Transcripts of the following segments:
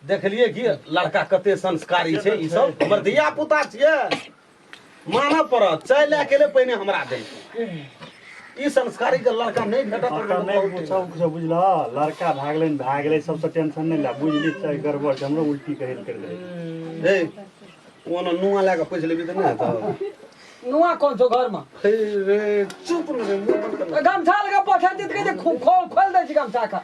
देखलिए कि लड़का कते संस्कारी छै ई सब हमर धिया पुता छियै मानऽ पड़त चाय लए के ले पहिने हमरा दे ई संस्कारी के लड़का नहि भेटत तऽ अतऽ नहि बहुत पूछब किछो बुझलह लड़का भए गेलै ने भए गेलै सबसँ टेंशन नहि लए बुझली छै गड़बड़ छै हमरो उल्टी कहै लए करि देबै हे ओना नुआ लए कऽ पैस लेबी तऽ नहि हेतौ नुआ कोन छौ घरमा हे रे चुप ने रे मुंह बंद कर ने। गमछा लगा पठा दी तऽ कहै छै खो- खोल खोल दै छी गमछा का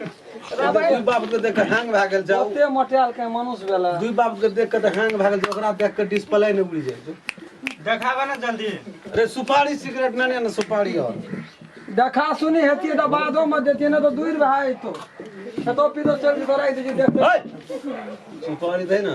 दुई बाप के देख के हैंग भए गेल जाउ ओते मोटायल के मनुष्य भेला दुई बाप के देख के तऽ हैंग भए गेल छै, ओकरा देख के डिस्प्ले नहि उड़ि जाइ छै देखाबे ने जल्दी अरे सुपारी सिगरेट नहि ने सुपारी और देखा सुनी हेतिए तऽ बादो में देतिए ने तो दूर भए जेतो खेतो पीतो चल के राखि दीजिए देखते सुपारी दै ने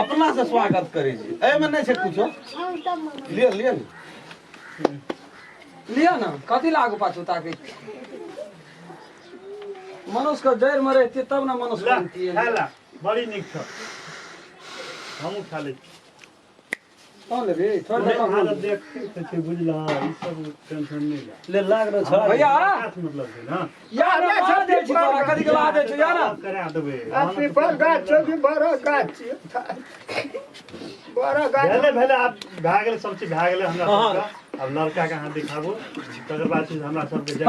अपना से स्वागत करे जी ए में नहीं छे कुछो लिया लिया ना लिया ना कथी लागू पाछू ताके मनुष्य का जड़ में रहती तब ना मनुष्य बनती है बड़ी निक छ हमू खा ले भेलै भेलै आब भए गेलै सब चीज भए गेलै हमरा सबके आब लड़का के अहाँ दिखाबू तकर बाद चीज हमरा सबके जाय-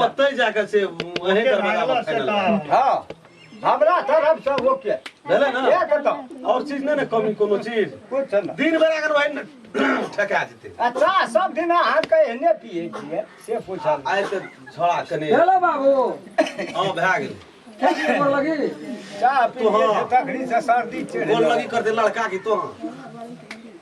ओतै जा कऽ से अहीं दरवाजा फाइनल हां हमरा तरफ से ओके भेलै ना ये कतो और चीज नै ने कमी कोनो चीज कुछ नै दिन बेरा अगर वही ठका जेतै अच्छा सब दिन अहाँ के एने पिए छिए से पूछल आइ त झोड़ा कने हेलो बाबू हां भए गेल चाह पी के तखनी से सर्दी चढ़ गोल लगी कर दे लड़का की तो हां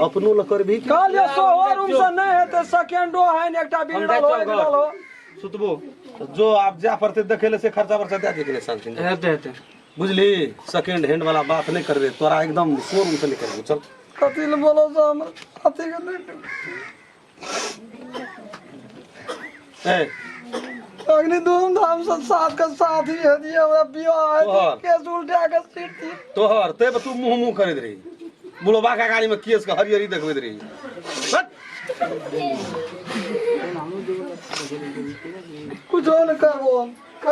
अपनो ल करबी कि काल जे सोहो रूम से नहीं हेते सेकेंडो है ने एकटा बिगड़ल हो बिगड़ल हो सुतबो त जो आब जाय पड़तै देखै लए से खर्चा वर्चा दए दिहे शान्ति हेते हेते बुझली सेकेंड हैंड वाला बात नहि करबे तोरा एकदम शोरूम से निकल चल कथी ले बोलो से हम अथी के नहीं ए अग्नि धूमधाम से साथ के साथ ही हदी हमरा बियाह है तोहर। केस उल्टा के सीट दी तोहर ते पर तू मुंह मुंह करैत रही बुढ़बा का गाड़ी में केस के हरियरी देखबैत रही हट! कुछ और न करबो हम।